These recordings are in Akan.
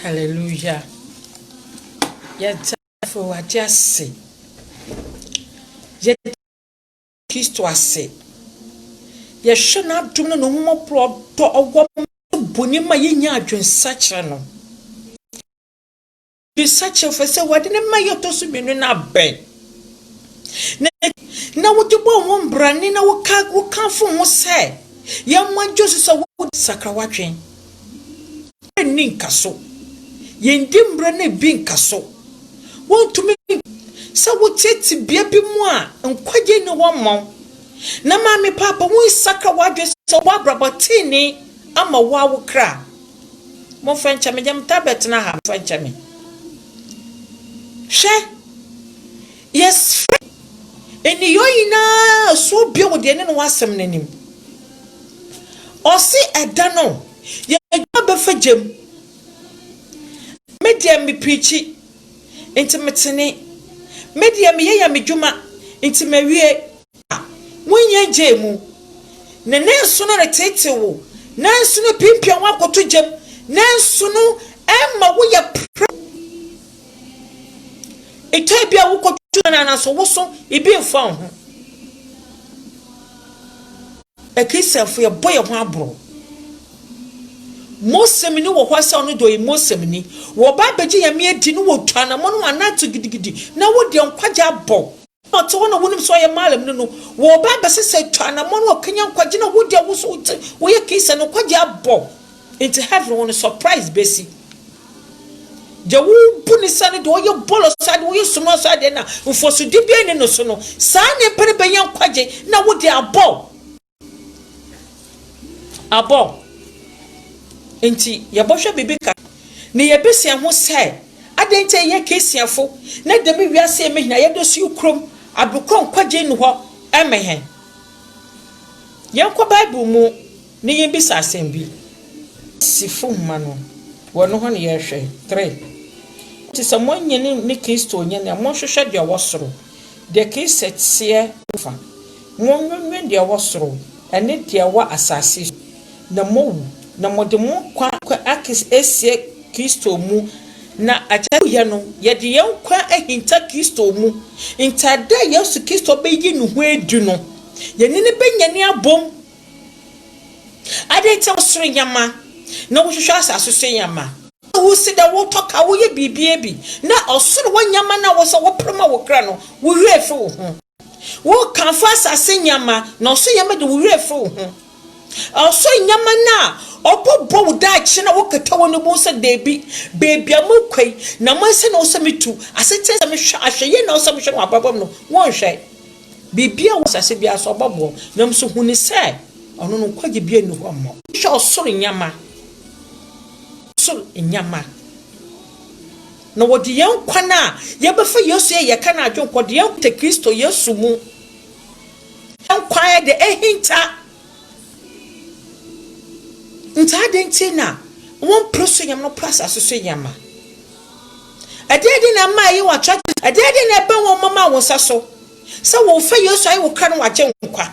Hallelujah. Yɛda Awurade ase. Yɛda Kristo ase. Yɛhwɛ n'adom no na ɔmmɔborɔ dɔ ɔwɔ bɔne ma yɛnya adwensakyerɛ no. Bisa kyerɛwfo sɛ wɔde ne mmae a ɛtɔ so mmienu no abɛn na na wode bɔ ho mbrane na woka wokamfo ho sɛ yɛmmoa ngye so sɛ wode sakra w'adwen. Mbrɛ nni nkaso. Yɛndi mbrɛ no bi nkaso. Wontumi sɛ wote tebea bi mu a nkwagye nni hɔ mma wo. Na Maame Paapa, wonsakra w'adwen sɛ wobɔ abrabɔ tenenee ama wo ara wo kra. Momfa nkyɛ me, deɛ metaa bɛtena ha, momfa nkyɛ me. Hwɛ, yɛsrɛ nneyɔɔ nyinaa soɔ bio wɔ deɛ ne no wɔ asɛm no anim. Ɔse ɛda no, yɛadwuma bɛfa gya mu. Me deɛ meprikyi, nti metene. Me deɛ meyɛ yɛ me dwuma, nti mawie. Wonnya ngyee mu. Na nanso no reteetee wo, nanso no piapia wo akoto gya mu, nanso no ɛmma woyɛ prɛko. Etɔ bi a wokɔto no anaso woso ebi mfa wo ho. Akristianfo yɛbɔ yɛn ho aboro. Mosɛmni wɔ hɔ sɛ ɔno deɛ ɔyɛ Mosɛmni. Wɔba abɛgye Nyame adi no wɔtu anamɔn wɔn anan to gidigidi na wode nkwagye abɔ. Na ɔte hɔ na wonim sɛ ɔyɛ Malam no no, wɔreba abɛsesa atwa anammɔn na wɔakanyan nkwagye na wodi a woso wote woyɛ Kinsani no nkwagye abɔ nti heaven hɔ no surprise besi. Deɛ wobu ne sɛ no deɛ ɔyɛ bɔlɔ so adeɛ ɔyɛ sumina so adeɛ na mfɔsodi biara nni ne so no saa nipa no bɛnya nkwagye na wode abɔ. Abɔ nti, yɛbɔhwɛ biribi kakra na yebesua ho sɛ, Adɛn nti a yɛyɛ Christianfo, na dɛm wiase yi mu hɛn a yɛda su yi krom adokor nkwagye nnyi hɔ mma hɛn? Yɛnkɔ Bible mu na yembisa asɛm bi. Efesifo nhoma no, wɔ no hɔ na yɛrehwɛ, three. Enti sɛ moannye ne Kristo nnye no a, monhwehwɛ deɛ ɔwɔ soro, deɛ Kristo teɛ no fa. Monnwennwen deɛ ɛwɔ soro, ne deɛ ɛwɔ asase so, na moawu, na mode mo nkwa asie Kristo mu, na akyɛde a moyɛ no, yɛde yɛn nkwa ahinta Kristo mu, nti da a Yesu Kristo bɛyi ne ho adi no, yɛne no bɛnyane abom. Adɛn nti na wosere nneɛma, na wohwehwɛ asase so nneɛma? Na wose dɛ wotɔ ka, woyɛ biribiara bi, na ɔsoro hɔ nneɛma no a wose wopere ma wo kra no, wo werɛ fi wo ho. Wo kamfo asase nneɛma, na ɔsoro nneɛma de, wo werɛ firi wo ho. Ɔsoro nneɛma no a ɔbɛbɔ wo daakye na wokata wo ani bu sɛ, Dabi, baabi a morekɔ yi, na mo ase na ɛwɔ sɛ mitu, asetena a ɛsɛ sɛ mehwɛ, ahwɛyie na ɛwɔ sɛ mehwɛ no wɔ abrabɔ mu no, wonhwɛ. Biribiara a ɛwɔ asase biara so, ɔbɛboa wo, nanso hu no sɛ ɔno no nkwagye biara nni hɔ mma wo. Hwɛ ɔsoro nneɛma, ɔsoro nneɛma. Na wɔde yɛn nkwa no a yɛbɛfa Yesu yɛ yɛka no adwenkɔ de yɛn nkwa te Kristo Yesu mu. Yɛn nkwa yɛ de ahinta. Nti adɛn nti na wɔmpere so nyɛma no pere asase so nyɛma? Ɛdeɛn de na ɛma ɛyɛ wɔn atrakye? Ɛdeɛn de na ɛbɛn wɔn ma ma wɔn nsa so sɛ wɔfa Yesu ayɛ wo kra na wɔagye nkwa?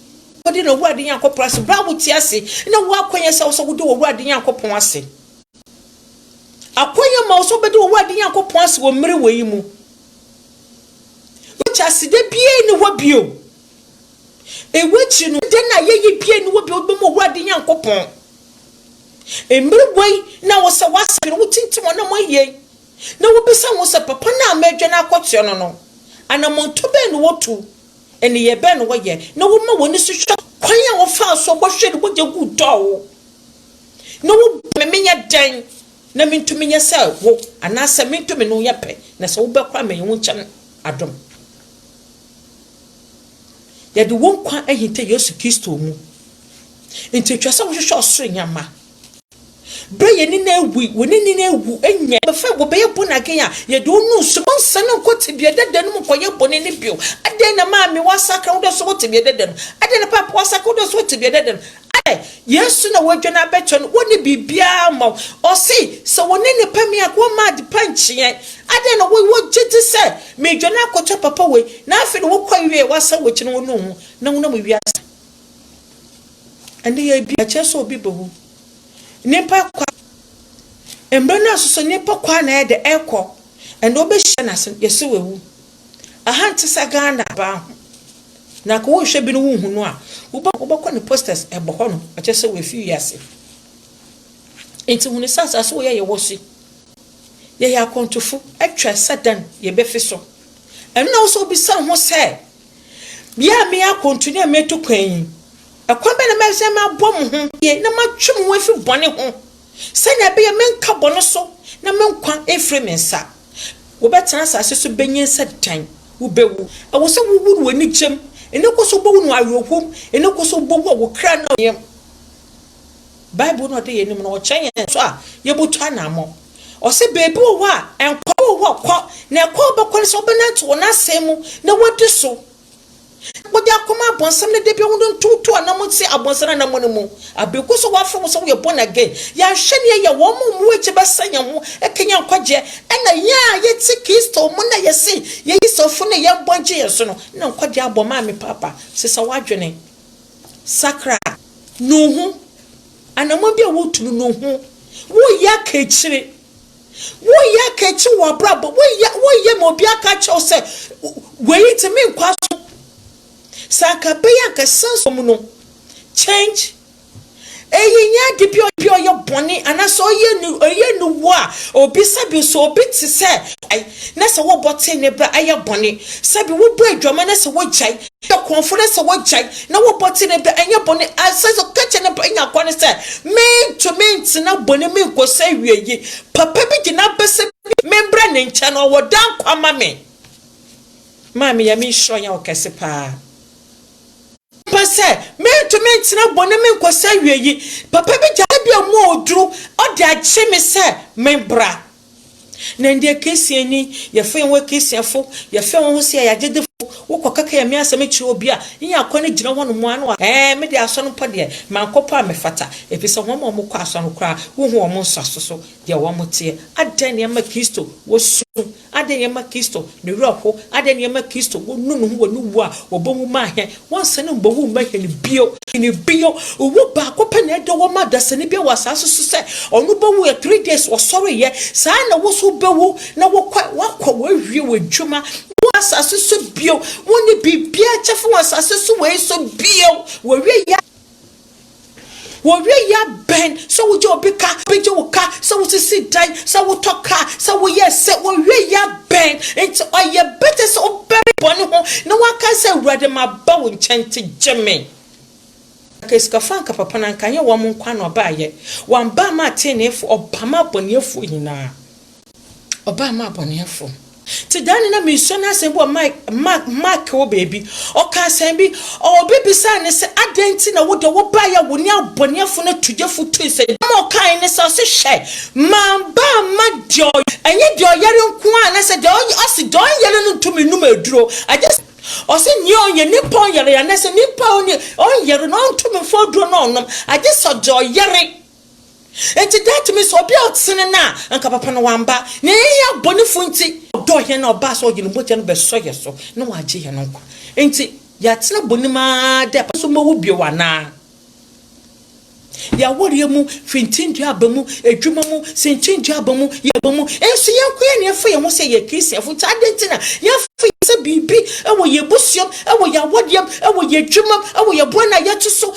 Wode no Awurade Nyankopɔn ase berɛ a wote ase na woakwan yɛ sɛ wo sɛ wode wɔ Awurade Nyankopɔn ase. Akwan yɛ ma wo sɛ wobɛde wɔ Awurade Nyankopɔn ase wɔ mmere wɔ yi mu. Wote ase dɛ biara ni hɔ bio. Ewu akyiri no, dɛn na yɛyɛ biara ni hɔ bio wobɛmu Awurade Nyankopɔn. Mmere wɔ yi na wo sɛ woasadwene, wotintim ɔnam ayie na wobisa wo ho sɛ, papa no a meredwane akɔtoa no no, anamɔntɔ bɛn na wɔtu? Nneyɛe bɛn na wɔyɛ na wɔma wɔn ani so hwɛ kwan a wɔfaa so bɔhwɛɛ ne mogya guu tɔɔ, na wobɔ me menyɛ dɛn na mintumi nyɛ sɛ wo anaasɛ mento me ne wo yɛ pɛ, na sɛ wobɛkɔ a menyɛ wo nkyɛn adom? Yɛde wo nkwa ahinta Yesu Kristo mu, enti ɛtwa sɛ wohwehwɛ ɔsoro nneɛma. Berɛ a yɛn ani no awu yi, wɔn ani no awu nyɛ. Wɔbɛfa, wɔbɛyɛ bɔne again a, yɛde wɔn no nso bɛnsane nkɔ tebea dada no mu nkɔyɛ bɔne no bio. Adɛn na maame woasakra wo dɛ sɛ wɔ tebea dada no? Adɛn na paapa woasakra wo dɛ sɛ wɔ tebea dada no? Adɛn? Yesu na wɔadwane abɛkyerɛ no, wɔnni biribiara mma wo. Ɔse, sɛ wɔne nnipa me a, wɔmma adepa nkyeɛ. Adɛn na wo, wogye di sɛ meredwane akɔkyɛ papa wei, na afei deɛ wokɔe wieɛ a, woasan w'akyi na wonuu ho, na wonam wiase. Ɛnnɛ yɛredi a ɛkyerɛ sɛ obi bewu. Nnipa kwa. Mmerɛ no aso sɛ nnipa kwa na ɛyɛ dɛ ɛkɔ. Ɛnnɛ wobɛhyia no ase yɛse wawu. Aha nte sɛ Ghana baa ho. Na nka wohwɛ bi no wonhu no a, wobɛkɔ ne posters ɛbɔ hɔ nom ɛkyerɛ sɛ wafi wiase. Nti hunu sɛ asase wei a yɛwɔ so yɛyɛ akwantufo. Ɛtwa sɛ dɛn yɛbɛfi so. Ɛno na wosɛ wobisa wo ho sɛ Bia a meyɛ akwantu na meretu kwan yi, kwan bɛn na mɛhwɛ sɛ mabɔ mo ho yie na matwe mo ho afiri bɔne ho, sɛnea ɛbɛyɛ menka bɔne so na me nkwa mfiri me nsa? Wobɛtena asase so benyin sɛ dɛn? Wubewu. Ɛwɔ sɛ wuwu no wɔ anigyem. Ɛnnɛ kɔ so wobɛwu no wɔ awerɛhom. Ɛnnɛ kɔ so wobɛwu a wo kra nna wo yam. Bible na ɔda yɛn anim no, ɔkyerɛ yɛn so a yɛbɛtu anammɔn. Ɔse baabi wɔ hɔ a nkɔɔ wɔ hɔ kɔ na ɛkwan a wobɛkɔ ne sɛ wobɛnante wɔ n'asɛm mu na woadi so na wode akɔma abɔnsam no dabia wo no ntoto anam nsi abɔnsam anamɔne mu abe gu so wafrɛ wo sɛ woyɛ born again yɛanhwɛ ne ɛyɛ wɔn mu mu akyi bɛsɛ yɛn ho ɛka yɛn nkwagyeɛ ɛna yɛn a yɛte kristo mu na yɛse yɛyi sɔfo ne yɛn bɔ gye yɛn so no na nkwagyeɛ abɔ maa me paapa sesa w'adwene sakra no ho Anammɔn bi a woretu no no ho. Woreyɛ aka akyire. Woreyɛ aka akyire wɔ w'abrabɔ. Woreyɛ, woreyɛ ma obi aka akyerɛ wo sɛ, wei nti menkɔ aso. Sɛ anka ɛbɛyɛ anka san som no. Change. Eyi nyɛ ade bi a obi a ɔyɛ bɔne anaasɛ ɔyɛ ni, ɔyɛ niwɔ a obi sɛbi nso obi te sɛ, na sɛ wobɔ tee ne bra ɛyɛ bɔne. Sɛbi wobɔ adwaman na sɛ wogyae. Ka kɔnfo no sɛ wɔgyae na wɔbɔ ti no da, ɛnyɛ bɔne. Ɛsɛ sɛ ɔka kyerɛ ne ba nya kwa no sɛ, Merentumi ntena bɔne mu nkɔsi awiei. Papa bi gyina hɔ pɛ sɛ membra ne nkyɛn, ɔwɔ daa nkwa ma me. Maame, yɛ me nhyira ɔyaw kɛse paa. Papa sɛ, Merentumi ntena bɔne mu nkɔsi awiei. Papa bi gyina hɔ, ebia mu a oduru, ɔde agye me sɛ membra. Na ndɛ Christian nyi, yɛfa hɛnho yɛ Christianfo, yɛfa hɛnho ho se yɛyɛ agyedefo, wokɔ kɛkɛ Nyame asɛm kyerɛ obi a, inya akwan gyina hɔ no mu ara na ɔaka, Ɛɛ, me de asɔr no mpo deɛ, mankɔ mpo a mefata, efisɛ hɔn a wɔkɔ asɔr no koraa, wohu hɔn nsaso so deɛ wɔtseɛ. Adɛn na ɛma Kristo wɔ su? Adɛn na ɛma Kristo ne werɛ ho? Adɛn na ɛma Kristo wonu no ho wɔ ne wu a obowu maa hɛn? Wɔnsan mbowu mma hɛn bio. Hɛn bio. Owu baako pɛ na ɛda hɔ ma dasani biara wɔ asaase so sɛ ɔno bɛwu yɛ three days ɔsɔreeɛ. Saa ara na wo nso wobɛwu na wokɔ a woakɔ woawie w'adwuma. Wɔ asaase so bio. Wonni biribiara kyɛfa wɔ asaase so wei so bio. Woawie yɛ. Wɔwie yɛ abɛn sɛ wogye obi ka, wobɛgye wo ka, sɛ wosisi dan, sɛ wotɔ kaa, sɛ woyɛ sɛ, wɔwie yɛ abɛn. Enti ɔyɛ better sɛ wobɛwe bɔne ho na woakae sɛ, Awurade, maba wo nkyɛn, nti gye me. Anka asikafo anka papa no anka ɛnyɛ wɔn nkoa na wɔbaeɛ, wɔn baa maa teneneefoɔ, wɔbaa maa abɔneɛfoɔ nyinaa. ɔbaa maa abɔneɛfoɔ. Te daane na meresua n'asɛm bi wɔ Mark, Mark wɔ baabi, ɔka asɛm bi, obi bisaa no sɛ, adɛn nti na wo deɛ wobaeɛ a wo ne abɔneɛfoɔ no tu gyefo tu sɛ, asɛm a ɔkaeɛ ne sɛ, ɔse hwɛ, mamba amma deɛ ɔy, ɛnyɛ deɛ ɔyare nko ara, na sɛ deɛ ɔy, ɔse deɛ ɔnyare no ntumi nnom aduro, agye sɛ, ɔse nea ɔnyɛ, nnipa ɔnyare, anaa sɛ nnipa ɔnyɛ, ɔnyare no ɔntumi mfa aduro no nnom, agye sɛ deɛ ɔyare. Enti that means obi a ɔtene no a anka papa no wamba na yɛn yɛ abɔnefo nti ɔdɔ hɛn na ɔbaa sɛ ɔdze no mogya no bɛsɔ hɛn so na ɔagye hɛn nkwa enti yɛatsena bɔn mu ara dɛ papa no so mbowu bio anaa? Yɛawareɛ mu, fintindua aba mu, adwuma mu, sintindua aba mu, yɛn aba mu, nso yɛn nko yɛn na yɛfa yɛn ho sɛ yɛyɛ Christianfo nti adɛn nti na yɛmfa yɛn sɛ biribi wɔ yɛn abusua mu, wɔ yɛn awareɛ mu, wɔ yɛn adwuma mu, wɔ yɛn boa no a yɛto so,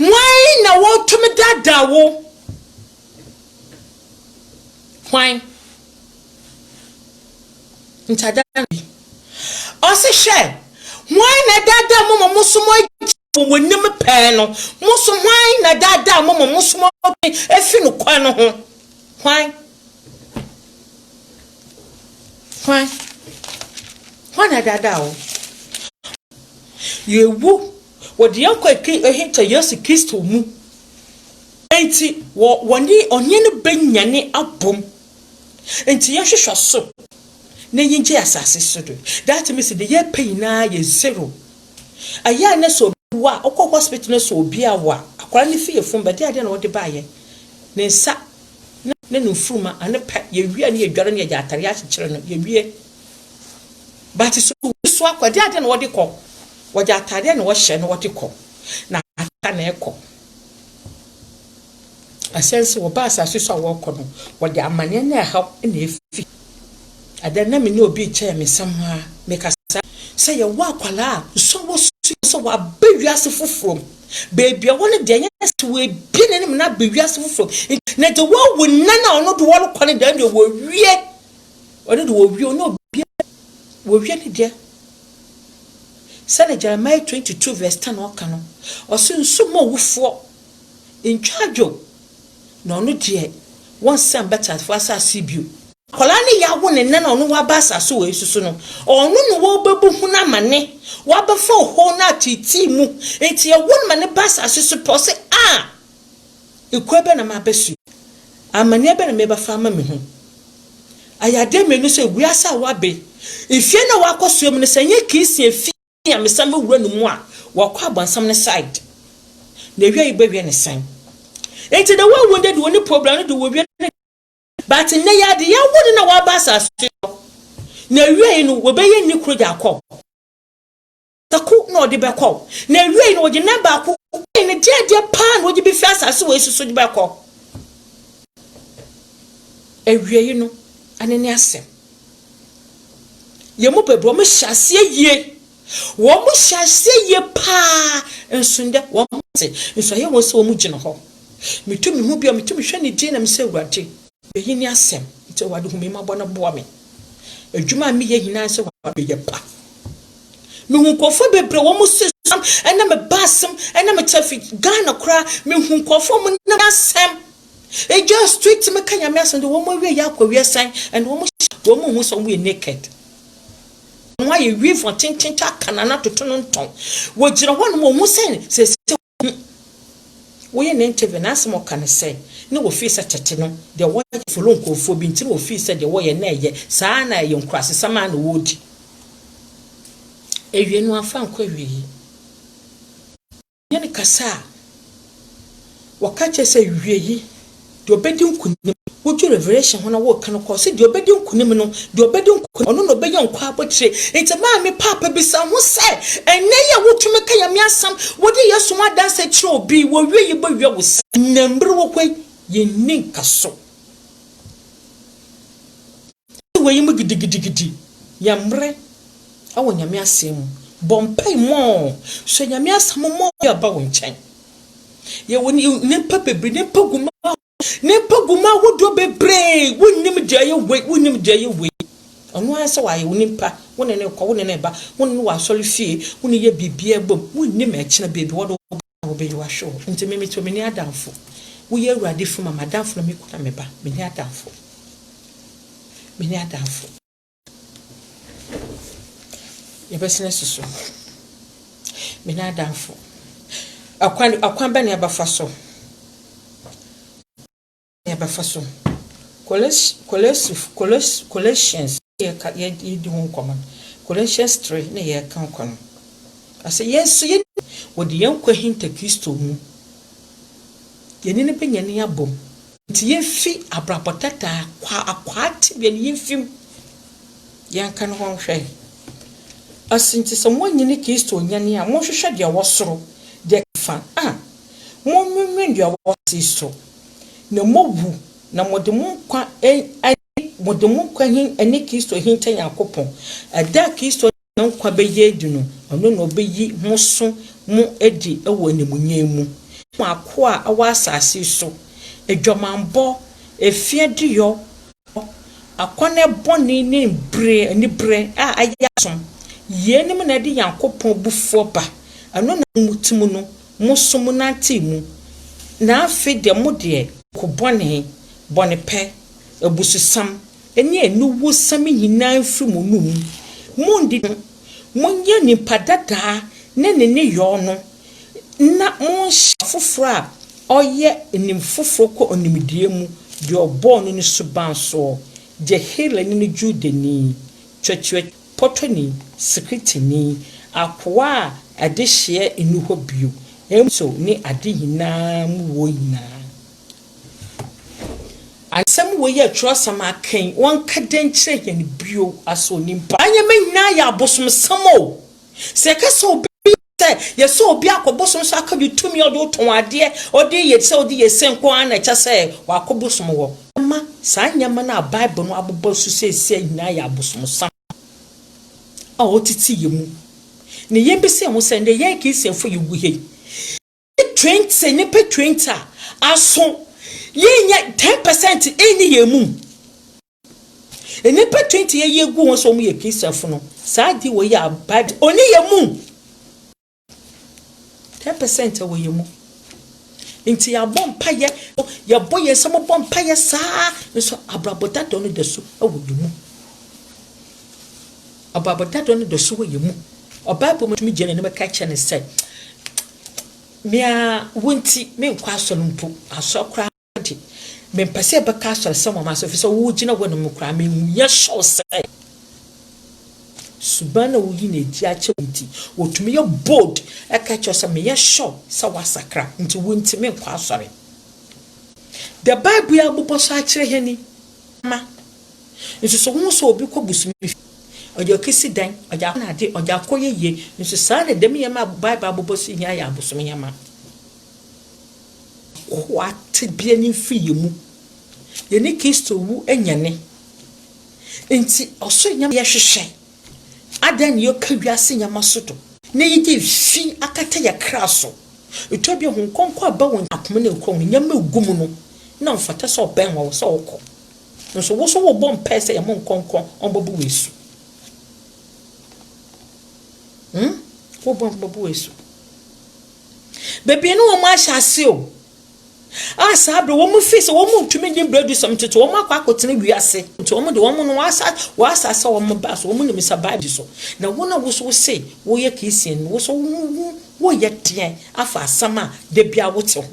Hwan na wɔtumi daadaa wo? Hwan? Ntadaa no bi. Ɔse hwɛ, hwan na daadaa mo ma mo so mo wɔ wɔnim pɛɛ no? Mo so hwan na daadaa mo ma mo so mo efi no kwan no ho? Hwan? Hwan? Hwan na daadaa wo? Yɛwu. Wɔde yɛn nkwa ahinta Yesu Kristo mu. Enti wɔ wɔne Ɔhene no benyane abom. Enti yɛnhwehwɛ so na yengyae asase so de. That means deɛ yɛpɛ nyinaa yɛ zero. Ɛyɛ a na sɛ obi wo a, wokɔ hospital na sɛ obi awo a, akwadaa no fi yafunu bɛde adeɛ na wɔde baeɛ. Ne nsa ne ne mfuruma ano pɛ, yɛwie a na yɛdware na yɛde atadeɛ akyekyere no, yɛwie. But sɛ obi so akɔ a, ɛde adeɛ na wɔde kɔ. Wɔde atadeɛ na wɔhyɛ na wɔde kɔ, na asetra na ɛkɔ. Ɛsɛ nso wɔba asase so a wɔrekɔ no, wɔde amaneɛ ne ɛhaw na ɛfi. Ɛdɛ na me ne obi rekyɛ me nsɛm a, mekasa sɛ yɛwɔ akwadaa a nso wɔsua sɛ wɔaba wiase foforɔ mu. Baabi a wɔn deɛ ɛnyɛ sɛ wɔabie n'anim na aba wiase foforɔ mu. Na deɛ wɔawu nna na ɔno de wɔrekɔ no deɛ ɛno deɛ wɔwie. Ɔno deɛ wɔwie, ɔne obiara wɔwie ne deɛ. Sɛdeɛ Jeremiah twenty two verse ten no ka no, ɔse, Nsu mma owufoɔ ntwa adwo, na ɔno deɛ wɔnsan mba teasefoɔ asase bio. Akwadaa no yɛawo no nnɛ na ɔno waba asase wei so so no, ɔno na wɔbɛbu ho no amane, wɔabɛfa ohoo no ateetee mu, nti yɛwo no ma no ba asase so pɛ, ɔse, Ah! Ekua bɛn na mabɛsoɛ? Amanneɛ bɛn na mebɛfa ama mehu? Ayɛ adeɛ mmienu sɛ wiase a wɔabe, efie no a wɔakɔsoɛ mu no, sɛ ɛnyɛ Christian fie a mesan mɛwura no mu a, wɔakɔ abɔnsam no side. N'awia yi bɛwiɛ no sɛn? Enti the way wounded wɔ ne problem no de wɔwie no dɛn? But nnɛ yi ara de, yɛawo no na waba asase so, n'awia yi no wɔbɛyɛ nni koro de akɔ. baako na ɔde bɛkɔ, na awiei no ɔde nna baako kɔe no de adeɛ paa na ɔde bɛfiri asase wei so so de bɛkɔ. Awiei no, ɛno ne asɛm. Yɛn mu bebree, wɔhyɛ aseɛ yie, wɔhyɛ aseɛ yie paa, nso nnɛ wɔte, nso ɛyɛ wɔn sɛ wɔgyina hɔ. Metu me ho bi a, metu mehwɛ ne din na mesɛ, Awurade, Eyi ne asɛm, nti Awurade hu me mmɔbɔ na boa me. Adwuma a meyɛ nyinaa sɛ meyɛ pa. Mehu nkurɔfoɔ bebree wɔn mo se sam ɛna me ba asɛm ɛna me kyɛ fi Ghana koraa mehu nkurɔfoɔ mo nam asɛm ɛgya street me ka nyame asɛm de wɔn awie yɛ akɔ wie sɛn ɛna wɔn wɔn mo hu sɛ wɔn yɛ naked wɔn ayɛ weave wɔn tenten ta kanana toto no ntɔn wɔgyina hɔ nom wɔn ho sɛn sɛ sɛ Hu woyɛ ne interview n'asɛm a ɔka ne sɛ na wɔfii sɛ tɛte no deɛ wɔyɛ folo nkurɔfoɔ bi nti na wɔfii sɛ deɛ wɔyɛ na ɛyɛ saa na ɛyɛ nkurasesɛm a na wɔredi awie no amfa ankɔ awie yi ne ne kasa a wɔka kyerɛ sɛ awie yi Deɛ ɔbɛdi nkunim. Wodwo Revelation ho na woreka no kɔ, ɔse deɛ ɔbɛdi nkunim no, deɛ ɔbɛdi nkunim, ɔno na ɔbɛnya nkwa abotire. Nti maame Paapa bisa ho sɛ, ɛnnɛ yi a wotumi ka Nyame asɛm, wode Yesu ho adanseɛ kyerɛ obi, wɔwie yi bɛwia wo sɛn? Nnɛ mmerɛ wɔ hɔ yi, yɛnni nkaso. Ɔse wei mu gidigidigidi yɛ mmerɛ wɔ Nyame asɛm mu. Bɔ mpae more, hyɛ Nyame asɛm mu more de ba wo nkyɛn. Yɛwɔ nnipa bebree, nnipa gumaa ahodoɔ, nnipa gumaa ahodoɔ bebree, wonnim deɛ ɛyɛ wei, wonnim deɛ ɛyɛ wei. Ɔno ara sɛ wayɛ wo nipa, wo ne ne kɔ, wo ne ne ba, wo ne ne wɔ asɔre fie, wo ne yɛ biribiara bom, wonnim ɛkyena baabi wɔde wo bɛkɔ. Na wɔbɛyi wo ahwɛ hɔ. Nti me, metew menni adamfo. Woyɛ Awurade fi ma m'adamfo na me kunu na me ba. Menni adamfo. Menni adamfo. Yɛbɛsen asusu. Menni adamfo. Ɔkwan, ɔkwan bɛn na yɛbɛfa so? Yɛbɛfa so. Coles, Colesifo, Coles, Colossians, yɛka, yɛ, yɛdi ho nkɔmmɔ no. Colossians 3 na yɛreka kɔ no. Ɔsɛ yɛn nso yɛn, wɔde yɛn nkwa hinta Kristo mu. Yɛne no bɛnya ni abom. Nti yɛmfi abrabɔ tata akwaa, akwaa tebea no, yɛmfi mu. Yɛnka no hɔ nhwɛ. Ɔse, nti sɛ moanyi ne Kristo onyane a, monhwehwɛ deɛ ɛwɔ soro, deɛ fa, a, monwinwin deɛ ɛwɔ asase so, na moawu, na mode mo nkwa ayi, mode mo nkwa hin ne Kristo ahinta Nyankopɔn. Ɛda a Kristo de ne nkwa bɛyɛ adi no, ɔno na ɔbɛyi mo so mo adi wɔ animuonyam mu. Mo akoa a ɔwɔ asase yi so, adwamammɔ, ɛfie adeyɔ, ɔdɔ, akɔnnɛ bɔne ne bere, aniberɛ a ayɛ asom, yeinom na ɛde Nyankopɔn abufuo ba, ɛno na mo mu te mu no, Mo so mo nantee mu, na afei deɛ mo deɛ. Ko bɔne, bɔnepɛ, abususɛm ne aniwusɛm nyinaa mfiri mo anom. Monni no. Monyɛ nipa dadaa ne ne nneyɔɔ no, na monhyɛ. Afoforɔ a ɔyɛ nim foforɔ kɔ nimdeɛ mu, deɛ ɔbɔɔ no no suban soɔ, deɛ Helani ne Judani, Twɛtwɛt. pɔtɔni, Sikritini, akoa a adehyeɛ nni hɔ bio, nso ne ade nyinaa mu wɔ nyinaa. Ansɛm wei yɛ twerɛsɛm aken, wɔnka dɛn nkyerɛ yɛn bio, aso onipa. Nneɛma nyinaa yɛ abosomsɛm o, sɛ yɛka sɛ obi yɛ. Sɛ yɛsɔ obi akɔ bosom so akɔgye tumi a ɔde wo tɔn adeɛ, ɔde yɛ sɛ ɔde yɛ se nko ara na ɛkyɛ sɛ wakɔ bosom hɔ. Ɛma saa nneɛma no a Bible no abobɔ so seesei nyinaa yɛ abosomsam a ɔtete yɛn mu, na yɛmmisa yɛn ho sɛ, 'Ɛnde yɛn Kristianfo a yɛwɔ ha yi, twenty nipa twenty a aso yɛn nyɛ ten percent ɛnni yɛn mu nipa twenty yɛ yɛ gu wɔn sɛ wɔn yɛ kristiafo no saa adi wɔ yɛ abad ɔni yɛ mu ten percent wɔ yɛ mu nti yɛabɔ mpa yɛ yɛbɔ yɛn nsɛm bɔ mpa yɛ saa nso abrabɔ dada no da so wɔ yɛ mu. Ɔbaboda dɔ no dɔ so wɔ yɛn mu. Ɔbaabɔ mu tumi gyina n'anim ka kyerɛ no sɛ, Me ara wo nti, menkɔ asɔre mpo. Asɔre koraa de, mempɛ sɛ yɛbɛka asɔre sɛ wɔn asɔre, efisɛ wogyina hɔ nom koraa, mehu yɛn sɔw sɛ suban na woyi no adi akyɛ wo nti, wotumi yɛ bold ka kyerɛ sɛ, Meyɛ sɔw sɛ woasakra, nti wo nti menkɔ asɔre. The Bible abobɔ so akyerɛ yɛn ni. nso so wohu sɛ obi kɔ bosome fie ɔde ɔkesi dan ɔde akɔ n'ade ɔde akɔ yɛ yie nso saa na dɛm yɛma a bible abobɔ so nyinaa yɛ abosom yɛma akoa tebea no mfiri yɛ mu yɛne kristo wu anyane nti ɔsoro nyama yɛhwehwɛ adɛn ne yɛka wiase nyama so do na yɛde fi akata yɛ kra so ɛtɔ bi ho nkɔnkɔ aba wɔn akoma ne nkɔn nyama egu mu no na mfata sɛ ɔbɛn wɔ sɛ ɔkɔ Nso wo so wo bɔ mpae sɛ yɛ mo nkɔ nkɔ ɔnbɔ bo wɔ asu hmm wo bɔ ɔnbɔ bo wɔ asu bebree no wɔn ahyɛ ase o a saa bere wɔn fi sɛ wɔn ntumi nye bere du sɛm ntoto wɔn akɔ akɔtena wiase nti wɔn de wɔn no wɔasa wɔasa sɛ wɔn ba so wɔn nim sa baabi so na wɔn a woso se wɔyɛ kristian no woso wɔyɛ deɛn afa asɛm a da bia wote ho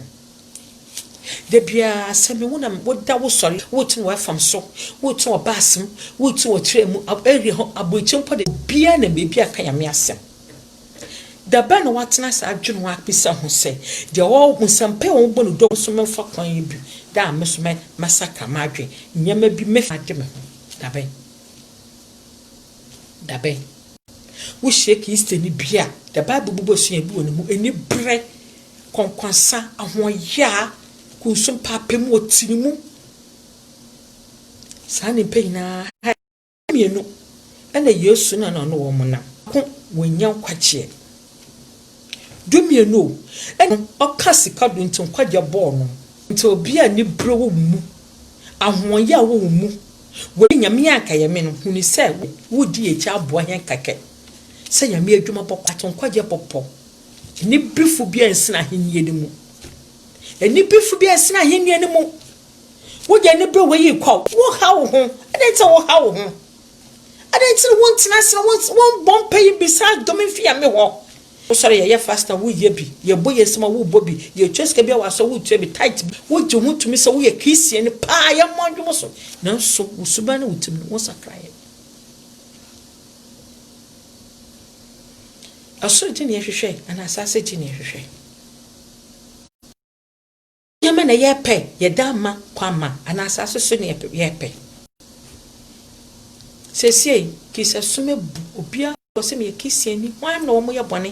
Da biara sɛ me wo na woda wo sɔre wote wɔ fam so wote wɔ bus mu wote wɔ train mu area hɔ aburokyi mpo de bia na baabi aka nyame asɛm da bɛn na watena saa adwene ho apisa ho sɛ deɛ wɔ nsɛmpa a wɔbɔ no dɔm so memfa kwan yi bi da a me so mɛsakra m'adwene nneɛma bi mɛfa agye me ho da bɛn da bɛn wohyia kristoni bi a the bible bobɔ sua bi wɔ ne mu ɛni berɛ kɔnkɔnsa, ahoɔyaa, kunso, mpaapaemu, ɔtirimu, saa nnipa nyinaa ha yi mmienu na Yesu na na ɔne wɔn nam. Ko wɔnya nkwagyeɛ. Du mmienu o, ɛna ɔka sika do nti nkwagyeɛ bɔɔ no. Nti obi a ne berɛ wɔ wo mu, ahoɔyaa wɔ wo mu, wɔ Nyame anka yɛ me no, huni sɛ wodi yɛ akyi aboa hɛn kɛkɛ sɛ Nyame adwuma bɔkɔ ato nkwagyeɛ bɔpɔ. Anibefo bi a nsen ahenni no mu. Anibefo bi a nsen ahenni no mu. Wode anibere wɔ yi kɔ. Woha wo ho. Adɛn nti na woha wo ho? Adɛn nti na wontena ase na wombɔ mpa yi bisa dom mfi Nyame hɔ? Wosɔre yɛyɛ fast a woyɛ bi, yɛbɔ yɛn nsam a wobɔ bi, yɛtua sika bi a w'aso a wotua bi, tithe bi, wogye ho tumi sɛ woyɛ Christiani paa, yɛmmɔ adwom so, nanso wo suban ne wo tirim no, wonsakraeɛ. Ɔsoro gyinii hwehwɛ anaa asaase gyinii hwehwɛ? Nneɛma na yɛpɛ yɛde ama kwan ma anaa asaase so na yɛpɛ? Seesei kisa sum abu, obiara pɛ sɛ ɔyɛ Christianni, hwan na wɔyɛ bɔne?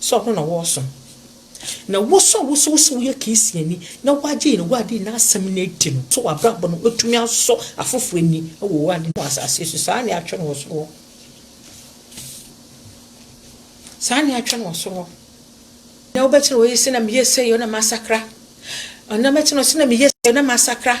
sɛ ɔno na wɔresom. Na wo nso a wosɛ wosɛ woyɛ Christianni na woagye Yehowa adi na asɛm no adi no, sɛ w'abrabɔ no atumi asɔ afoforo ani wɔ wo ade wɔ asase so. Saa na yɛatwerɛ no wɔ soro hɔ. Saa na yɛatwerɛ no wɔ soro hɔ. Na wobɛte no wɔyɛ sɛ na meyɛ sɛ yɛ na masakra. Na mɛte no sɛ na meyɛ sɛ na masakra.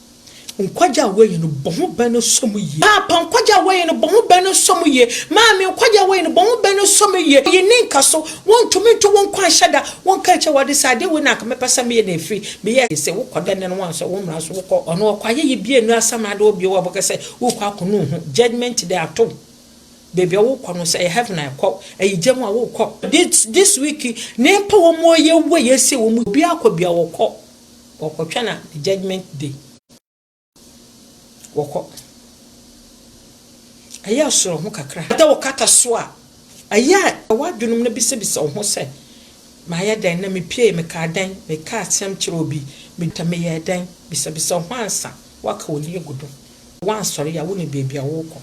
Nkwagye a woeyi no, bɔ ho bɛ no sɔ mu yie. Paapa nkwagye a woeyi no, bɔ ho bɛ no sɔ mu yie. Maame nkwagye a woeyi no, bɔ ho bɛ no sɔ mu yie. Oyi ne nka so, wontumi nto wo nkwa nhyɛ da. Wonka nkyerɛ w'ade sɛ, Adeɛ wei na anka mɛpɛ sɛ meyɛ na ɛfiri, meyɛɛ sɛ se. Wokɔ dɛ nnɛ no woansɔ wo mmara so, wokɔ. Ɔno ɔkɔ ayɛyi bia nnu asamrado hɔ bio a wobɛka sɛ worekɔ akɔnu wo ho. Judgement day ato wo. Baabi a worekɔ no, sɛ ɛyɛ heaven a ɛkɔ, ɛyɛ gya mu a worekɔ. This week, nnipa wɔn a wɔyɛ wu a yɛasie wɔn mu, obiara kɔ bia ɔkɔ. Wɔkɔ twɛn a the judgement day wɔkɔ ɛyɛ soro ho kakra. Sɛ wokata so a ɛyɛ a w'adwenem no bisabisa wo ho sɛ mayɛ dɛn na mepiee, mekaa dɛn, mekaa asɛm kyerɛɛ obi, meduae a meyɛɛ dɛn, bisabisa wo ho ansa woaka w'ani agu do. Sɛ woansɔre a wonim baabi a worekɔ.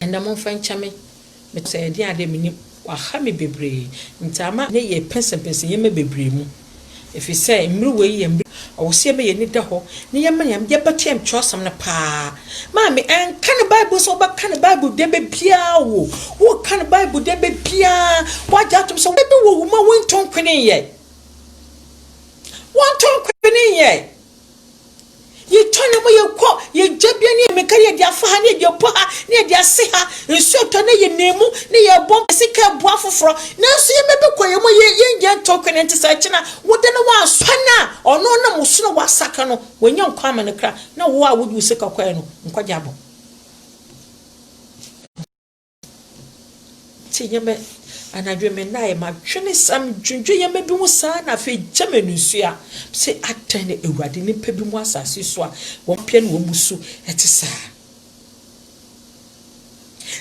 Ɛnna momfa nkyɛ me. Metsɛɛ dzen a dɛ minyim ɔaha me beberee ntsi ama ne yɛ pɛnsɛmpɛnsɛ ndzɛmba beberee mu. Efisɛ mber wei yɛ mber a ɔwɔ sɛ yɛma hɛn enyi da hɔ na yɛma Nyame dɛ yɛbɛtoa mu kyerɛwsɛm no paa. Maame, nka no Bible nsɛm, wobɛka no Bible dɛmba biara o, woreka no Bible dɛmba biara, wɔagye ato mu sɛ wɔbɛbɔ wo wu ma woenntɔnkwenee yɛ. Wɔnntɔnkwenee yɛ. Yɛtɔ na ma yɛkɔ yɛn gyabea ne yɛn mmirika ne yɛde afa ha ne yɛde apɔ ha ne yɛde ase ha. Nsuo tɔ na yɛnam mu ne yɛrebɔ mpase ka ɛboɔ afoforɔ. Nanso yɛn mma bi kɔ yɛn mu a yɛn yɛn gya nto kwan nti sɛ ɛkyena woda na woansɔ pa no a ɔno ɔnam wo so na woasaka no wanya nkwa ama ne kra na wo a wode wo sika kɔɛ no nkwa gya abɔ. Nti nyɛ me anadwo me nnaeɛ madwene sɛ medwendwe yɛma bi ho saa na afei gya me anusua sɛ adɛn na awurade nipa bi mu asase so a wɔn pɛ na wɔn mu su ɛte saa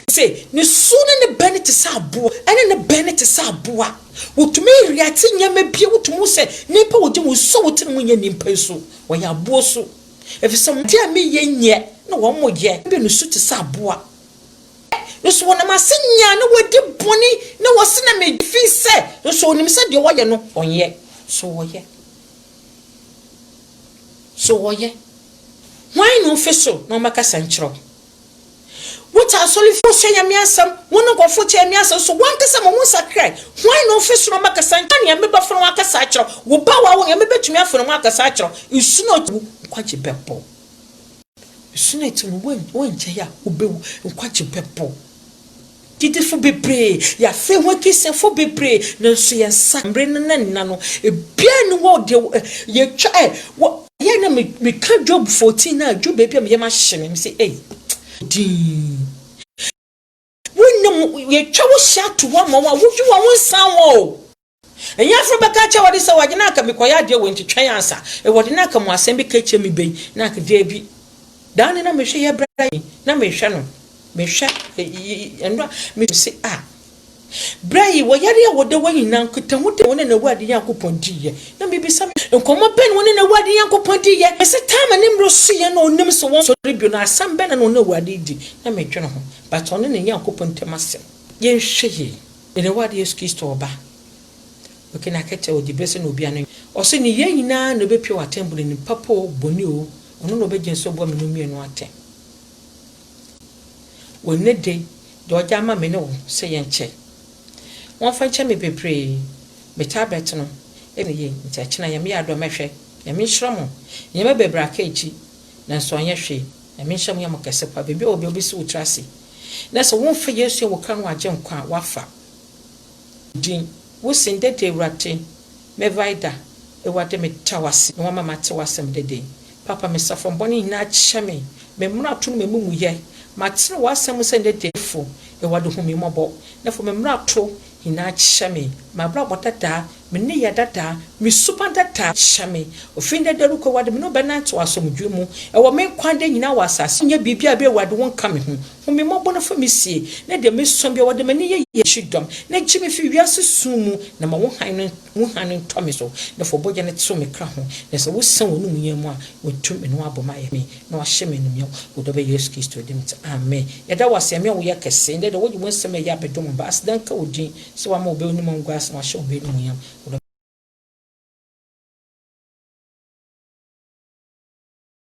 sɛ ne su ne ne bɛn te sɛ aboa ɛne ne bɛn ne te sɛ aboa wotumi reate nneɛma bi wotumi sɛ nipa wogye wɔn su a wote ne mu nyɛ nipa su wɔyɛ aboa su efisɛ wɔn te a meyɛ nyɛ na wɔn mo yɛ bɛ ne su te sɛ aboa Nso wɔnam ase nyaa na wɔadi bɔne, na wɔse na megye fi sɛ, nso ɔnim sɛ deɛ ɔyɛ no ɔnyɛ. So wɔyɛ? So wɔyɛ? Hwan na ɔmfi so na ɔmmɛkasa nkyerɛ wo? Wote asɔrefoɔ sua Nyame asɛm, wo ne nkurɔfoɔ te Nyame asɛm, so wankasa ma wonsakrae? Hwan na ɔmfi so na ɔmmɛkasa nkyerɛ wo? Nyame bɛfa no mu akasa akyerɛ wo. Wo ba a w'awo no, Nyame bɛtumi afa no mu akasa akyerɛ wo. Nsu na ɔgye wo nkwagye bɛbɔ wo. Nsu no akyi no, wonngyae a wobewu, nkwagye bɛbɔ. Gyidifo bebree yɛ afei ho Akristiafo bebree, nanso yɛn nsa mmere no na nna no, ebiara nni hɔ deɛ yɛatwa ɛ. Wɔ. Yɛ na me, meka Job fourteen no a, ɛduru baabi a me yam ahye me, mese ei, dinn. Wo nnwom ho, yɛtwa wo hyia to hɔ ma wo a wodwi wo a wonsan hɔ o. Ɛnyɛ aforo bɛka akyerɛ w'ade sɛ w'ade na anka mekɔyɛ adeɛ wei nti twɛn ansa ewɔde na anka mo asɛm bi ka akyerɛ me bɛyi na anka daabi daa ne na mehwɛ yɛ bra yi na mehwɛ no mehwɛ ɛno a mese a bra yi wɔ yare a wɔda wɔ nyinaa nkitaho de wɔne na awurade nyankopɔn di yɛ na mebisa me nkɔmmɔ bɛn wɔne na awurade nyankopɔn di yɛ mese taama ne mmerɛ so yɛ na onim sɛ wɔn sɔre bio na asɛm bɛn na wɔne awurade di na medwene ho But ɔno ne Nyankopɔn ntam asɛm. Yɛnhwɛ yie. Yerewa de Yesu Kristo ɔba. Oke na kɛtɛ o, dibre sɛ na obia no. Ɔse ne yɛn nyinaa na obepia wɔ atɛn bune nim papa o, bɔne o, ɔno na ɔbɛgyina so abua me nom mmienu atɛn. Wɔ nnɛ dei, deɛ ɔgya ama me ne wo sɛ yɛnkyɛ. Wɔnfa nkyɛ me bebree, me tablet no, ɛne yei, nti akyena Nyame yɛ adom mɛhwɛ. Nyame nhyira mo. Nneɛma bebree aka akyi. Nanso ɔnyɛ hwee. Nyame nhyira mo yɛ mo kɛse paa. Baabi a ɔwɔ biara ɔbɛsi wo tiri ase. Na sɛ womfa Yesu yɛ wo kra no agye nkwa a, woafa din. Wo sin dɛ dɛ Ewurade, me Vida. Ewurade me da wo ase na wama mate w'asɛm dɛ dɛ. Papa me safam bɔne nyinaa kyɛ me, me mmarato ne m'amumuyɛ. Matene w'asɛm mu sɛ ndɛ dɛ fo. Ewurade hu me mmɔbɔ na fa me mmarato Nyinaa kyɛ me, m'abrabɔ dada, me nneyɛɛ dada, me suban dada kyɛ me. Ofi nnɛ da rekɔ, Awurade, me ne wo bɛnantew asomdwoe mu wɔ me nkwa nna nyinaa wɔ asase. Nyɛ biribiara bi a Awurade wo nka me ho. Hu me mmɔbɔ na fa me sie, na deɛ mesua biara wɔde m'ani yɛ. Yɛ me kyidɔm, na gye me fi wiase sum mu, na ma wo hann no. Mu hann ntɔ me so, na fa wo bɔgya no tew me kra ho, na sɛ wosian w'anom yɛn mu a, wɔatu me na wɔabɔ me ayɛ me, na wɔahyɛ me anuonyam wɔ dɔ bɛ Yesu Kristo din mu nti, amen. Yɛda wo ase, Nyame a woyɛ kɛse, ndɛ dɛ wode wo nsɛm a eye abɛdom wo mba, aseda nka wo din sɛ woama wo bɛ w'anom angu ase na wɔahyɛ wo bɛ anuonyam wɔ dɔ.